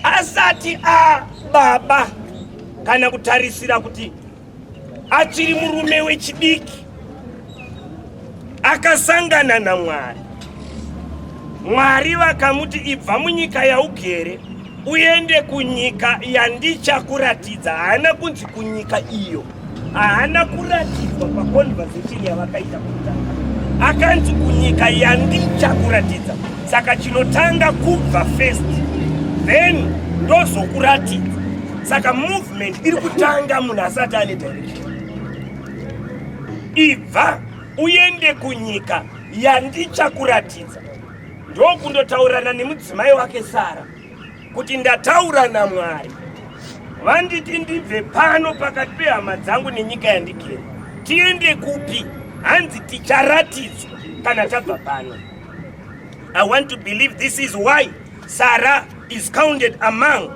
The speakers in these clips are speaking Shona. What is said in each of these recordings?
asati ababa kana kutarisira kuti achiri murume wechidiki akasangana namwari mwari vakamuti ibva munyika yaugere uende kunyika yandichakuratidza haana kunzi kunyika iyo haana kuratidzwa paconversation yavakaita kutanga akanzi kunyika yandichakuratidza saka chinotanga kubva first then ndozokuratidza saka movement iri kutanga munhu asati ane direction ibva uende kunyika yandichakuratidza ndokundotaurirana nemudzimai wake sara kuti ndataura naMwari vanditi ndibve pano pakati pehama dzangu nenyika yandigere tiende kupi hanzi ticharatidzwa kana tabva pano i want to believe this is why sarah is counted among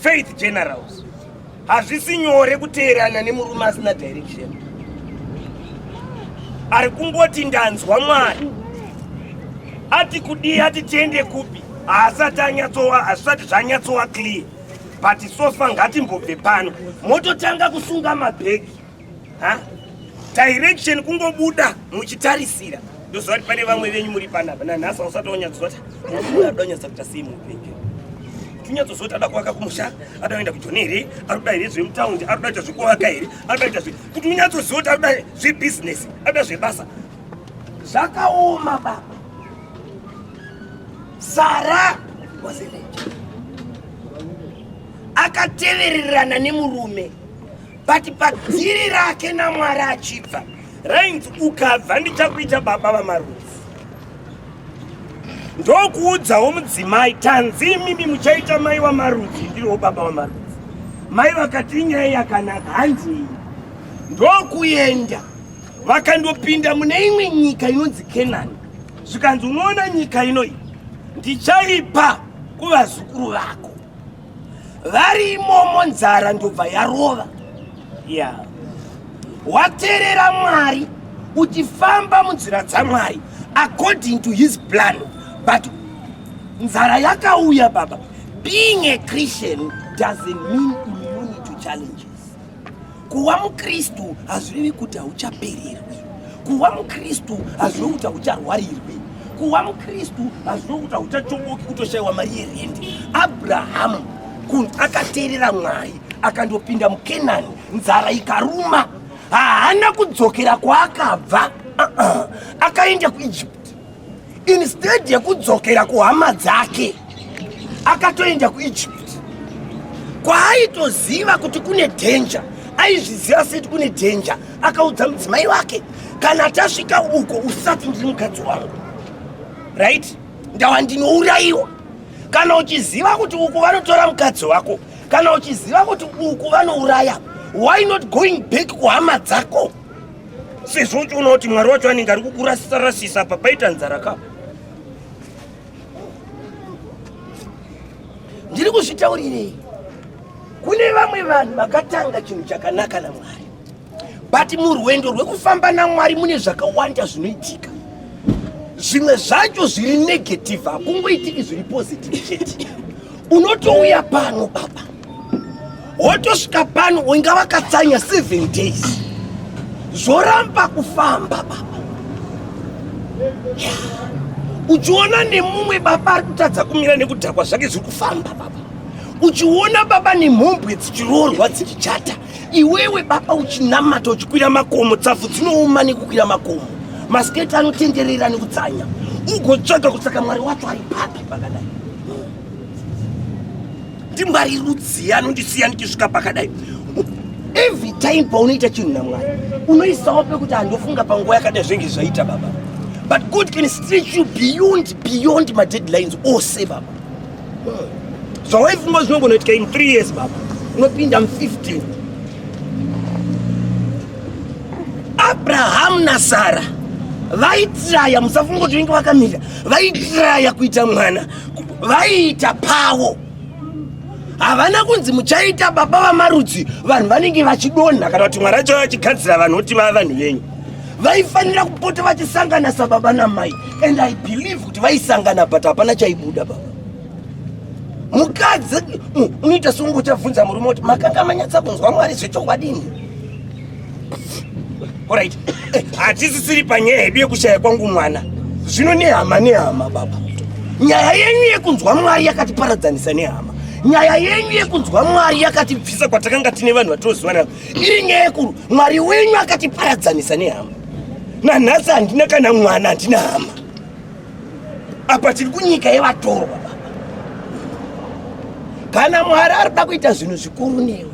faith generals hazvisi nyore kuteerana nemurume asina direction ari kungoti ndanzwa mwari ati kudii ati tiende kupi haasati anyatsowa hazvisati zvanyatsova clear but sofa ngatimbobve pano mototanga kusunga mabhegi ha direction kungobuda muchitarisira ndoziva kuti pane vamwe venyu muri panapa nanhasi ausati wanyatsozoata muada unyatsa kuita sei muupenyu tinyatsozooti ada kuvaka kumusha ada kuenda kujoni here ari kuda here zvemutaundi ari kudaita zvekuvaka here ari kudaita zve kuti unyatsoziva kuti ari kuda zvebhizinesi ari kuda zvebasa zvakaoma baba sara wazeneja akatevererana nemurume but padziri rake namwari achibva rainzi ukabva ndichakuita baba vamarufu ndokuudzawo mudzimai tanzi imimi muchaita mai wamarudzi ndiriwo baba wamarudzi mai vakati inyaya yakanaka handii ndokuenda vakandopinda mune imwe nyika inonzi kenani zvikanzi unoona nyika inoyi ndichaipa kuvazukuru vako vari imomo nzara ndobva yarova ya waterera mwari uchifamba munzira dzamwari according to his plan but nzara yakauya baba being a christian doesn't mean immunity to challenges Kuva muKristu hazvirevi kuti hauchapererwi. Kuva muKristu hazvirevi kuti haucharwarirwi. Kuva muKristu hazvirevi kuti hauchachomoki kutoshayiwa mari yerendi. Abrahamu kunzi akateerera Mwari akandopinda muKenani, nzara ikaruma, haana kudzokera kwaakabva, uh-uh. akaenda kuIjipiti. instead yekudzokera kuhama dzake akatoenda kuegypt kwaaitoziva kuti kune dhenja aizviziva seti kune dhenja akaudza mudzimai wake kana tasvika uko usati ndiri mukadzi wangu right ndawa ndinourayiwa kana uchiziva kuti uku vanotora mukadzi wako kana uchiziva kuti uku vanouraya why not going back kuhama dzako sezvo uchiona kuti mwari wacho anenge ari kukurasisarasisa apa paita nzara ka ndiri kuzvitaurirei kune vamwe vanhu vakatanga chinhu chakanaka namwari but murwendo rwekufamba namwari mune zvakawanda zvinoitika zvimwe zvacho zviri negative hakungoitiki zviri positive chete unotouya pano baba wotosvika pano inga vakatsanya seven days zvoramba kufamba baba uchiona nemumwe baba ari kutadza kumira nekudhakwa zvake zviri kufamba baba uchiona baba nemhombwe dzichiroorwa dzichichata iwewe baba uchinamata uchikwira makomo tsapfu dzinooma nekukwira makomo masiketi anotenderera nekutsanya ugotsvaga kutsaka mwari wacho ari papi pakadai ndimwari rudzii anondisiya ndichisvika pakadai every time paunoita chinhu namwari unoisawo pekuti handofunga panguva yakadai zvenge zvaita baba but god can stretch you beyond beyond madeadlines ose baba zvawaifunga zvinongonoitika in three years baba unopinda mu15 abrahamu nasara vaitiraya musafunga kuti vinge vakamira vaitiraya kuita mwana vaiita pavo havana kunzi muchaita baba vamarudzi vanhu vanenge vachidonha kana kuti mwari acho vachigadzira vanhu kuti vava vanhu venyu vaifanira kupota vachisangana sababa namai and i believe kuti vaisangana but hapana chaibuda baba mukadzi unoita seunge uchabvunza murume kuti makanga manyatsa kunzwa mwari zvechokwadi ini Alright. Eh, Hatisisiri panyaya yedu yekushaya kwangu mwana. Zvino nehama nehama baba. Nyaya yenyu yekunzwa Mwari yakatiparadzanisa nehama. Nyaya yenyu yekunzwa Mwari yakatibvisa kwatakanga tine vanhu vatoziva navo. Iri nyaya yekuru Mwari wenyu akatiparadzanisa nehama. Nanhasi handina kana mwana handina hama. Apa tiri kunyika yevatorwa baba. Kana Mwari ari kuda kuita zvinhu zvikuru newe.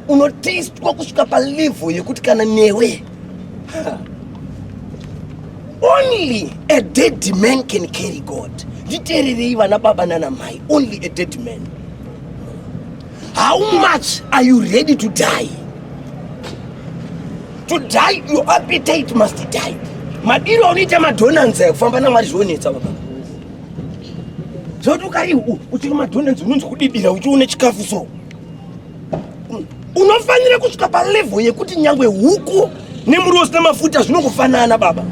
unoteistwa kusvika palevel yekuti kana newe only a dead man can carry god nditeererei vana baba nana mai only a dead man how much are you ready to die to die your appetite must die madiro anoita madonanzi ekufamba namwari zvionetsa baba zvokuti ukari uchiri madonanzi unonzi kudibira uchiona chikafu so unofanira kusvika palevel yekuti nyangwe huku nemuriwo usina mafuta zvinongofanana baba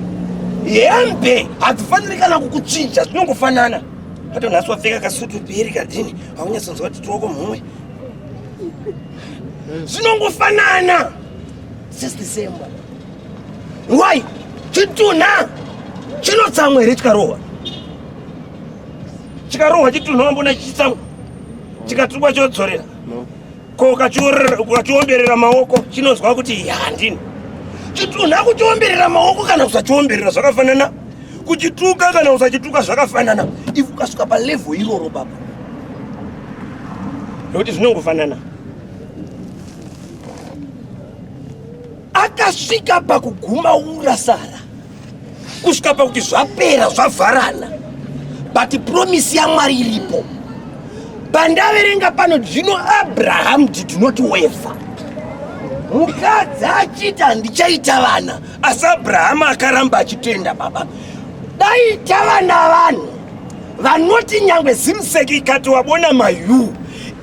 hembe hadzifaniri kana kukuchinja zvinongofanana patonhasi wapfeka kasutu peri kadhini haunyatsonzwa kuti tioko mumwe zvinongofanana sesdecember why chitunha chinotsamwa here chikarohwa chikarohwa chitunhu wambona chitsangu chikatukwa chodzorera ko ukachiomberera maoko chinonzwa kuti handini chitunhu akuchiomberera maoko kana kusachiomberera zvakafanana kuchituka kana usachituka zvakafanana if ukasvika palevel iroro baba nokuti zvinongofanana akasvika pakuguma ura sara kusvika pakuti zvapera zvavharana but promise yamwari iripo pandaverenga pano zvino abraham did not waver mukadzi achiti handichaita vana asi abrahama akaramba achitenda baba daita vana vanhu vanoti nyangwe zimseki ikati wabona mayu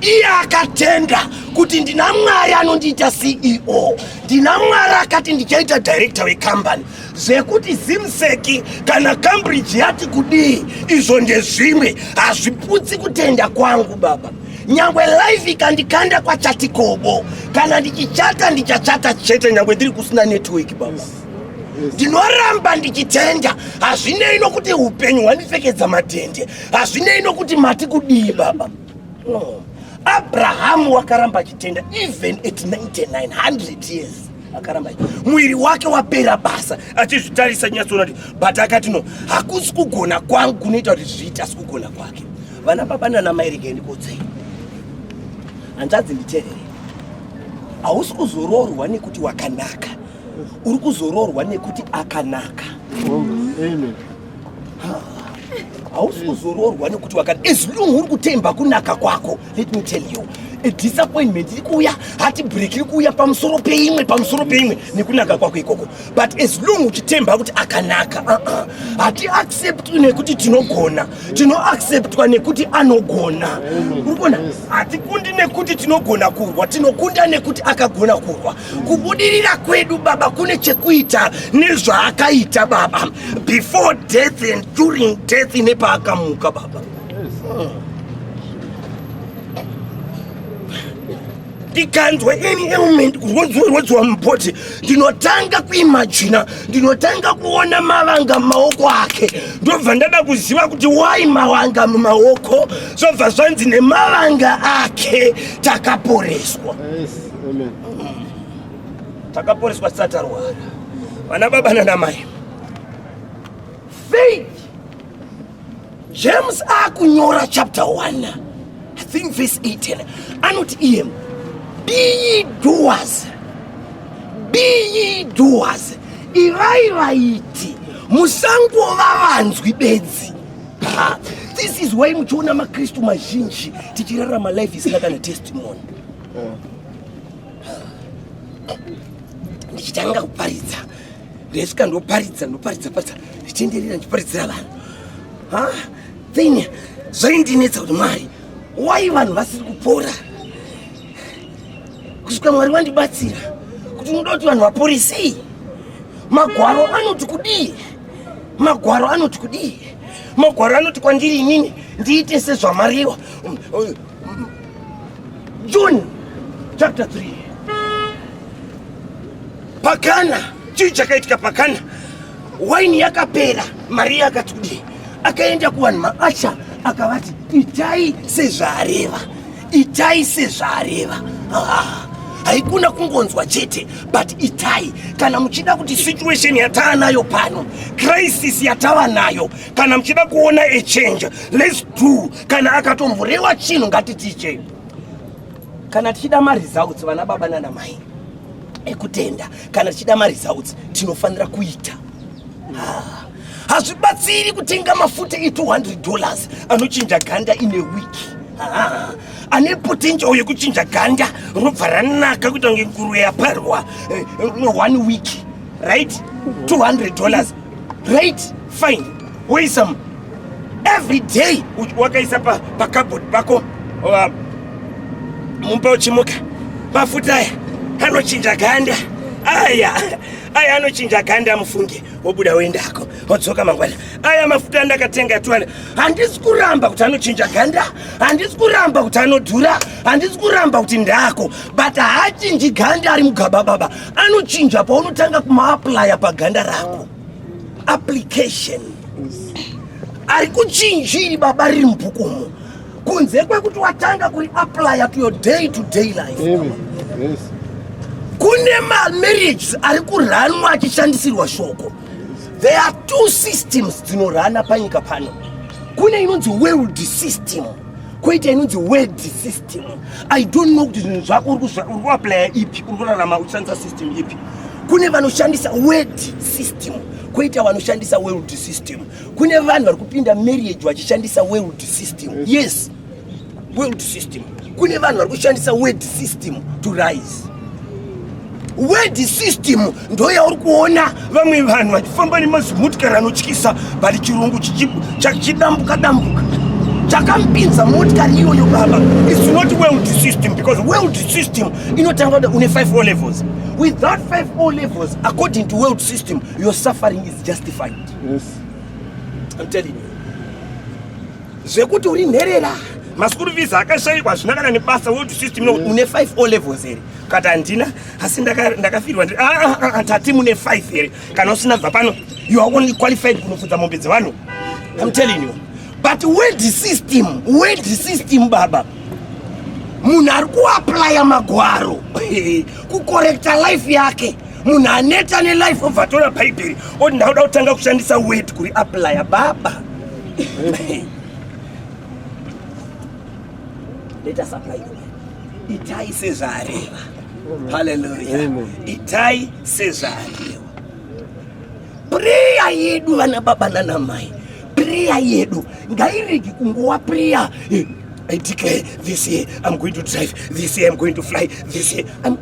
iye akatenda kuti ndina mwari anondiita ceo ndina mwari akati ndichaita directa wecompany zvekuti zimseki kana cambridge yati kudii izvo ndezvimwe hazviputsi kutenda kwangu baba nyangwe life ikandikanda kwachatikobo kana ndichichata ndichachata chete nyangwe ndiri kusina network baba ndinoramba ndichitenda hazvinei nokuti upenyu hwandipfekedza matende hazvinei nokuti mati kudii baba No. Abraham wakaramba chitenda even at 99 100 years akaramba mwiri wake wapera basa achizvitarisa nyatsoona kuti but akati no hakusi kugona kwangu kunoita kuti zviite asi kugona kwake vana baba nana mai rega ndikodzei hanzvadzi nditerere hausi kuzoroorwa nekuti wakanaka uri kuzoroorwa nekuti akanaka Amen. hausi kuzoroorwa nekuti wakada as long uri kutemba kunaka kwako let me tell you a disappointment iri kuuya hati break iri kuuya pamusoro peimwe pamusoro peimwe nekunaka kwako ikoko but as long uchitemba kuti akanaka uh-uh. hati accept nekuti tinogona tinoacceptwa nekuti anogona uri kuona hatikundi nekuti tinogona kurwa tinokunda nekuti akagona kurwa Kubudirira kwedu baba kune chekuita nezvaakaita baba before death and during death nepaakamuka baba. ndikanzwa any ailment kurwadziwa mubody ndinotanga kuimajina ndinotanga kuona mavanga mumaoko ake ndobva ndada kuziva kuti wai mavanga mumaoko zvobva zvanzi nemavanga ake takaporeswa yes. takaporeswa tisati tarwara vana baba nanamai faith james akunyora chapter 1 i think verse 18 anoti iye be ye doers be ye doers ivai vaiti musangova vanzwi bedzi this is why muchiona makristu mazhinji tichirarama life isina kana testimony ndichitanga kuparidza ndesvika ndoparidza ndoparidza paridza ndichienderera ndichiparidzira vanhu ha then zvaindinetsa kuti mwari wai vanhu vasiri kupora kusvika mwari wandibatsira kuti unoda kuti vanhu vapore sei magwaro anoti kudii magwaro anoti kudii magwaro anoti kwandiri inini ndiite sezvamariwa John chapter 3. Pakana chii chakaitika pakana waini yakapera Maria akati kudii akaenda kuvanhu maasha akavati itai sezvaareva itai sezvaareva ah, haikuna kungonzwa chete but itai kana muchida kuti situation yatava nayo pano crisis yatava nayo kana muchida kuona a change let's do kana akatomborewa chinhu ngatitichei kana tichida maresults vana baba nana mai ekutenda kana tichida maresults tinofanira kuita ah, hazvibatsiri kutenga mafuta e200 dollars anochinja ganda ine wiki ah, ane potential yekuchinja ganda robva ranaka kuita kunge nguruve yaparwa eh, one week right 200 dollars right fine woisa every day wakaisa pacabod pa pako uh, mumba uchimuka mafuta aya anochinja ganda aya aya anochinja ganda mufunge wobuda woendako wodzoka mangwana aya mafuta andakatenga tuwana handisi kuramba kuti anochinja ganda handisi kuramba kuti anodhura handisi kuramba kuti ndako but haachinji ganda ari mugaba baba anochinja paunotanga kumaaplaya paganda rako application ari kuchinjiri baba riri mubhukumo kunze kwekuti watanga kuri aplaya to your day to day life yes. kune mamarriages ari kuranwa achishandisirwa shoko there are two systems dzinorana panyika pano kune inonzi world system koita inonzi word system I don't know kuti zvinhu zvako uri kuaplaya ipi, uri kurarama uchishandisa system ipi. Kune vanoshandisa word system, koita vanoshandisa world system. Kune vanhu vari kupinda marriage vachishandisa world system. Yes, world system. Kune vanhu vari kushandisa word system to rise. word system ndoyauri kuona vamwe vanhu vachifamba nemazimutikari anotyisa but chirungu chidambuka dambuka chakampinza motikari iyoyo baba its not world system because world system inotanga kuda une 5 o levels without 5 o levels according to world system your suffering is justified yes. I'm telling you zvekuti uri nherera maschool fees akashaikwa hazvina kana nebasa world system no une 5 o levels here kati handina asi ndakafirwa ndiri ah, ah, ah, tati mune 5 here kana usina bva pano you are only qualified kunofudza mombe dzevanhu i'm telling you but world system world system baba munhu ari kuaplya magwaro kukorekta life yake munhu aneta nelife obva atora bhaibheri oti ndauda kutanga kushandisa word kuri aplya baba itai sezvaareva haleluya itai sezvaareva priya yedu vana baba nanamai priya yedu ngairegi kunguwa priya I declare this year I'm going to drive, this year I'm going to fly, this year I'm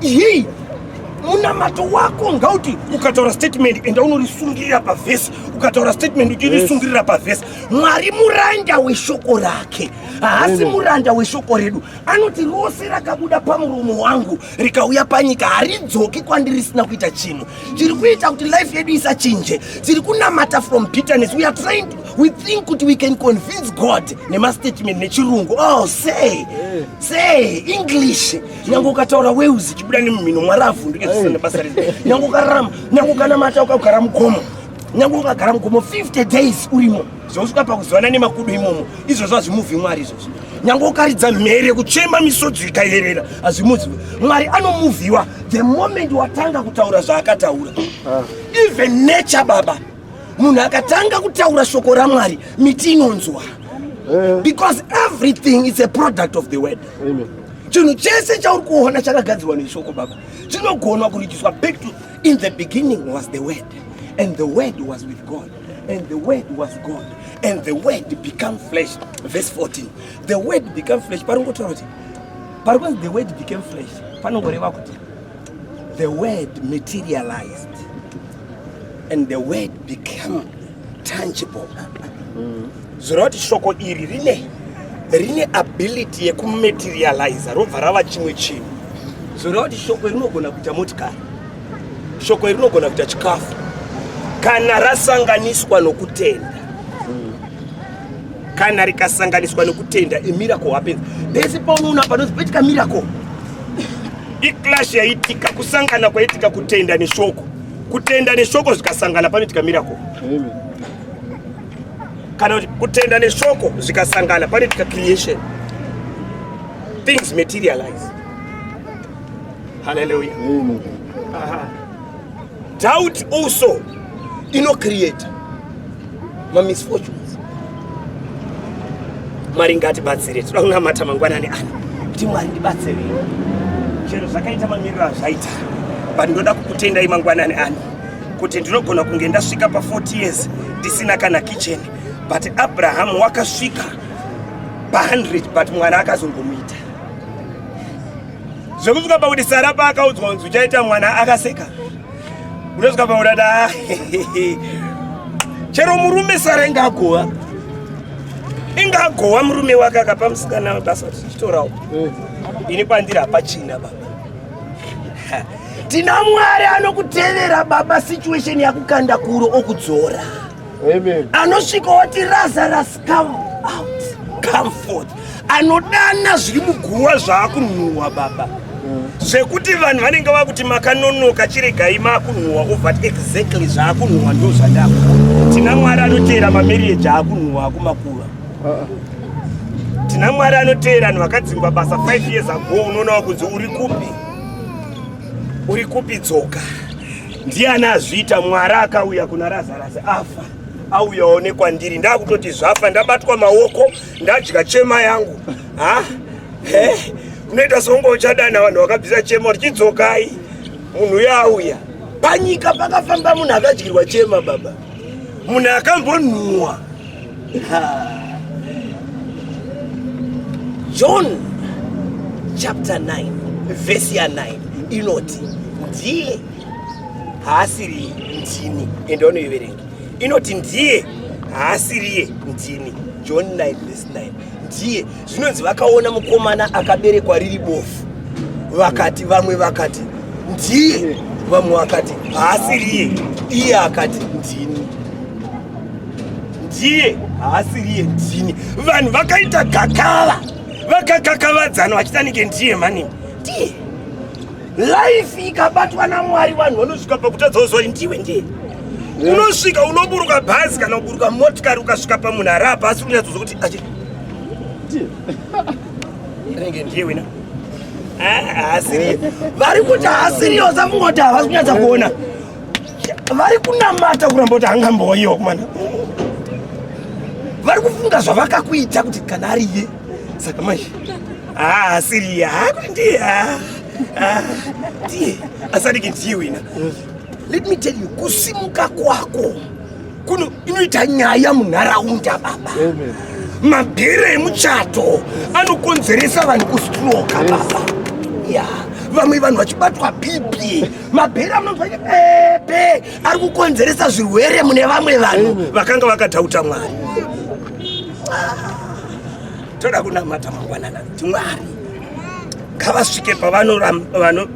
Hii munamato wako ngauti ukataura statement enda unorisungirira pavhesi ukataura statement uchirisungirira pavhesi mwari muranda weshoko rake haasi muranda weshoko redu anoti rose rakabuda pamuromo wangu rikauya panyika haridzoki kwandiri risina kuita chinhu tiri kuita kuti life yedu isachinje tiri kunamata from bitterness we are trying to, we think kuti we can convince god nemastatement nechirungu oh say say english nyange ukataura weuzi chibuda nemumhino mwari avhunduke zvese nebasa rino nyange ukararama nyange ukanamata ukagara mugomo nyange ukagara mugomo 50 days urimo zvausvika pakuzivana nemakudo imomo izvozvo hazvimuvhi mwari izvozvo nyange ukaridza mhere kuchema misodzi ikayerera hazvimuzivi mwari anomuvhiwa the moment watanga kutaura zvaakataura ah. even nature baba munhu akatanga kutaura shoko ramwari miti inonzwa eh. because everything is a product of the word chinhu chese chauri kuona chakagadzirwa neshoko baba chinogona kuridziswa back to in the beginning was the word and the word was with god and the word was god and the word become flesh verse 14 the word become flesh paringotaura kuti pari kunzi the word became flesh panongoreva kuti the word materialized and the word became tangible mm. zvoreva kuti shoko iri rine rine ability yekumaterializa robva rava chimwe chinhu zvoreva kuti shoko iri rinogona kuita motikari shoko iri rinogona kuita chikafu kana rasanganiswa nokutenda kana rikasanganiswa nokutenda a miracle happens pese paunoona panonzi poitika miracle iclash yaitika kusangana kwaitika kutenda neshoko kutenda neshoko zvikasangana panoitika miracle kana kutenda neshoko zvikasangana panoitika creation things materialize haleluya Doubt also inocreate mamisfortunes. Mwari ngatibatsire, toda kunamata mangwanani ano kuti Mwari ndibatsire chero zvakaita mamiriro azvaita but ndoda kukutendai mangwanani ano kuti ndinogona kunge ndasvika pa40 years ndisina kana kitchen but abrahamu wakasvika pa100 but mwana akazongomuita Zvekuzvika pakuti Sara paakaudzwa kunzi uchaita mwana akaseka. Unozvika pakuti ati ah, chero murume Sara inga agowa. Inga agowa murume wake akapa musikana basa tichitorawo. Eh. Ini pandiri hapachina baba. Tina Mwari anokutevera baba situation yakukanda kuro okudzora. Amen. Anosvika oti raza rasa come out come forth anodana zviri muguva zvaakunhuhwa baba zvekuti vanhu vanenge vakuti makanonoka chiregai makunhuhwa over exactly zvaakunhuhwa ndo zvandako tina mwari anoteera mamarieji aakunhuhwa akumakuva tina mwari anoteera vanhu vakadzingwa basa 5 years ago unoona wakunzi uri kupi uri kupi dzoka ndiani azviita mwari akauya kuna razarasi afa auyawo nekwandiri ndakutoti zvafa ndabatwa maoko ndadya chema yangu ha he unoita songo uchadana vanhu vakabvisa chema kuti chidzokai munhu uyo auya panyika pakafamba munhu akadyirwa chema baba munhu akambonhuwa john chapter 9 vhesi ya 9 inoti ndiye haasiriye ndini ende wanoiverengi inoti ndiye haasiriye ndini john 9 vs 9 ndiye zvinonzi vakaona mukomana akaberekwa riri bofu vakati vamwe vakati ndiye vamwe vakati haasiriye iye akati ndini ndiye haasiriye ndini vanhu vakaita gakava vakakakavadzana vachitanike ndiye mani ndiye life ikabatwa namwari vanhu vanosvika pakutadza kuzori ndiwe ndiye unosvika unoburuka bhazi kana kuburuka motikari ukasvika pamunhu ari apa asi unyatsozo kuti achi renge ndiye wina haasiriye vari kuti haasiriye usafungwa kuti havasi kunyatsa kuona vari kunamata kuramba kuti hangamboiwo kumana vari kufunga zvavakakuita kuti kana ariye saka manje Ah, Silia, ndiye. Ah, ah, ndiye. Asati ndiye wina. Let me tell you, kusimuka kwako kuno inoita nyaya munharaunda baba. Amen. Mabhira emuchato anokonzeresa vanhu kustroka baba. Yeah. vamwe vanhu vachibatwa bp mabhera munonzwa pepe ari kukonzeresa zvirwere mune vamwe vanhu vakanga vakadhauta mwari toda kunamata mangwanana kuti mwari ngavasvike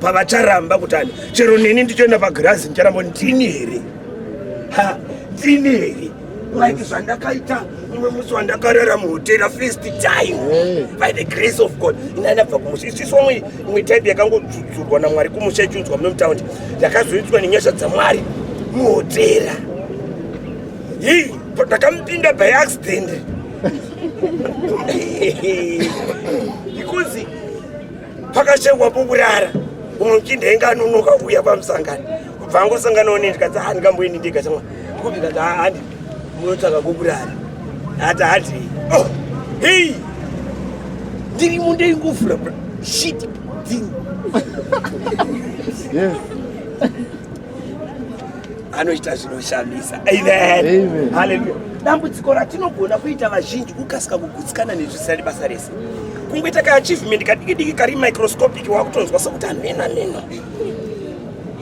pavacharamba kuti ani chero neni ndichoenda pagirazi ndicharamba ndini here ha ndini here like zvandakaita umwe musi wandakarara muhotera first time by the grace of god inanabva kumusha isiso imwe type yakangodzudzurwa namwari kumusha ichiunzwa muno mutaundi yakazoitiswa nenyasha dzamwari muhotera hii ndakamupinda by accident ikunzi pakashengwa bukurara umwe muchinda ainge anonoka kuuya pamusangano kubva angosanganawo neni tikati ha ndingamboendi ndega chamwa kupi kati haandi munotsvaka bukurara hati hati oh, hei ndiri mundei nguvura shit dzini anoita zvinoshamisa amen haleluya dambudziko ratinogona kuita vazhinji kukasika kugutsikana nezvisirari basa rese kungoita kaachievement kadiki diki kari microscopic wakutonzwa sokuti hameno hameno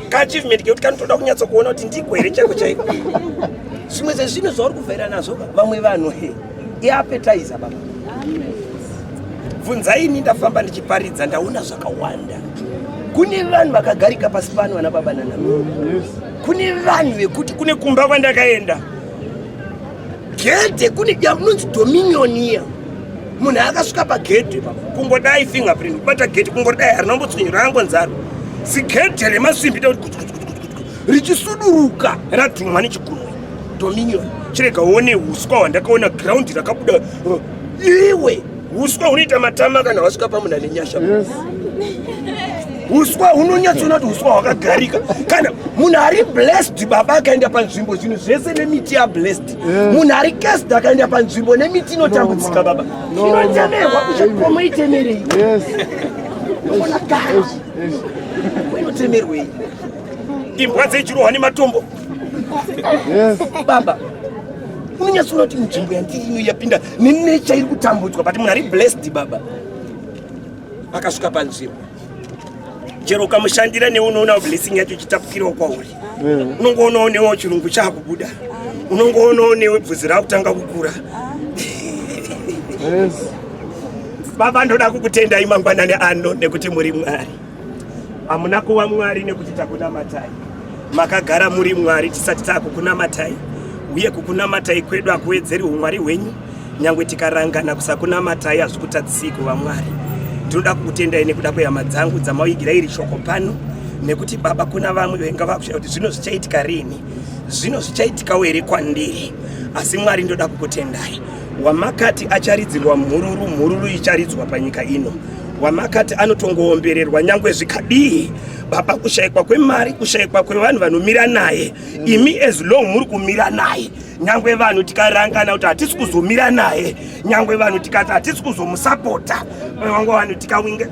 kaachievement kekuti kanotoda kunyatsokuona kuti ndiko here chaiko chaiko zvimwe zvezvinhu zvauri kuvhaira nazvo vamwe vanhu he iapetizer baba bvunzaini ndafamba ndichiparidza ndaona zvakawanda kune vanhu vakagarika pasi pano vana baba nana kune vanhu vekuti kune kumba kwandakaenda gedhe kune yamunonzi dominion iya munhu akasvika pagedhe pa kungodai fingerprint kubata gedhe kungodai harina kumbotswinyura angonzaro zigedhe remasimbi tekuti richisuduruka radhumwa nechigumwe Dominion, chirega uone huswa hwandakaona ground rakabuda uh, iwe huswa hunoita matama kana wasvika pamuna nenyasha yes. huswa hunonyatsoona kuti huswa hwakagarika kana munhu ari blessed baba akaenda panzvimbo zvinhu zvese nemiti yablessed eh. munhu ari cast akaenda panzvimbo nemiti inotambudzika baba inotemerwa kuchikomo itemerei inotemerwei imbwa dzechirohwa nematombo Yes. Baba. Unonyatsoona kuti nzvimbo yandiri ino yapinda nenecha iri kutambudzwa but munhu ari blessed baba. Akasvika panzvimbo. Chero ukamushandira newe unoonawo blessing yacho ichitapukirawo kwauri. Mm. Unongoonawo newe chirungu chakubuda. Unongoonawo newe bvudzi rakutanga kukura. Yes. Baba ndoda kukutendai mangwanani ano nekuti muri Mwari. hamuna kuva mwari nekuti takunamatai makagara muri mwari tisati taakukunamatai uye kukunamatai kwedu hakuwedzeri umwari hwenyu nyange tikarangana kusakunamatai hazvikutadzisei kuva mwari ndinoda kukutendai nekuda kwehama dzangu dzamauigira iri shoko pano nekuti baba kuna vamwe venga vakushaya kuti zvino zvichaitika rini zvino zvichaitikawo here kwandiri asi mwari ndoda kukutendai wamakati acharidzirwa mhururu mhururu icharidzwa panyika ino wamakati anotongoombererwa nyangwe zvikadii baba kushaikwa kwemari kushaikwa kwevanhu vanomira naye mm. imi as long muri kumira naye nyangwe vanhu tikarangana kuti hatisi kuzomira naye nyangwe vanhu tikati hatisi kuzomusapota nyangwe vanhu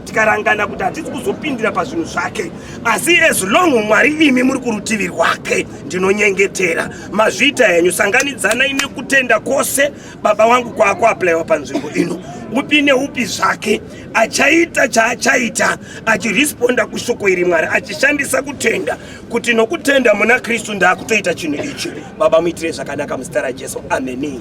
tikarangana kuti hatisi kuzopindira pazvinhu zvake asi as long mwari imi muri kurutivi rwake ndinonyengetera mazviita henyu sanganidzanai nekutenda kwose baba wangu kwaakuaplaiwa panzvimbo ino upi neupi zvake achaita chaachaita achiresponda kushoko iri mwari achishandisa kutenda kuti nokutenda muna kristu ndaakutoita chinhu ichi baba muitire zvakanaka muzita rajesu ameni